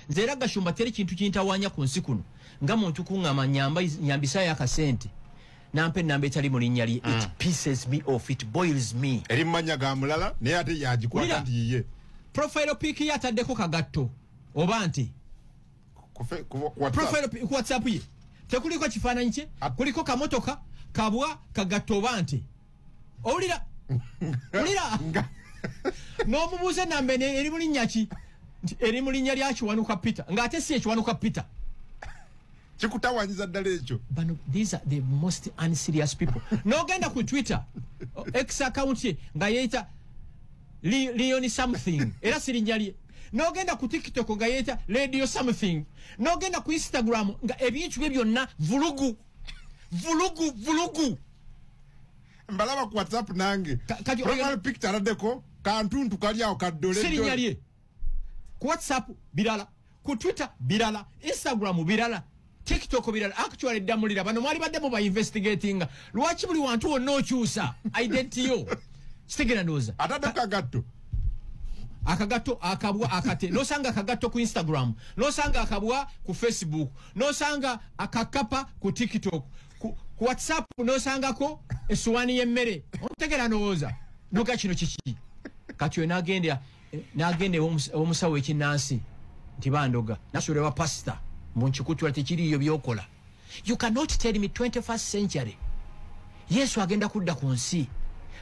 nze era gashumba teri kintu kintawanya ku nsi kuno nga muntu kuŋama nyambisayo akasente nampa enamba etali mu linnya lye it mm. pieces me off it boils me eri mumanya ga mulala naye ate yagikwata nti yiye profile pic ye ataddeko kagatto oba nti profile ku whatsapp ye tekuliko kifaananyi kye kuliko kamotoka kabwa kagatto oba nti owulira wulira n'omubuuza enamba eno eri mu linnya ki nti eri mu linnya lya kiwanuka peter ng'ate si ekiwanuka peter kikutawanyiza ddala ekyo bano these are the most unserious people n'ogenda ku twitter ex account ye nga yeeyita leoni something era si linnya lye n'ogenda ku tiktok nga yeeyita radio something n'ogenda ku instagram nga ebintu bye byonna vulugu vulugu vulugu mbalaba ku whatsapp nange profile picture aladeko kantuntu kali awo kaddole sirinya lye ku whatsapp birala ku twitter birala instagram birala tiktok birala actually damulira bano mwali badde mu ba investigatinga lwaki buli wantu wonna okyusa identity yo sitegera ndowooza atadeko agatto akagatto akabwa akate nosanga akagatto ku instagram nosanga akabwa ku facebook nosanga akakapa ku tiktok ku, ku whatsapp nosangako esuwani yemmere ontegera nowooza noga kino kiki kati oyo nagenda eh, nagenda omusawo ekinansi nti bandoga nasula ewa pasita mbu nkikutula tekiriyo byokola you cannot tell me 21st century yesu agenda kudda ku nsi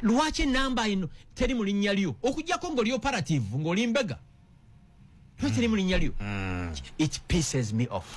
lwaki enamba ino teri mu linnya lyo okujjako ngaoli operative ngaoli mbega lwaki eri mu linnya lyo it pisses me off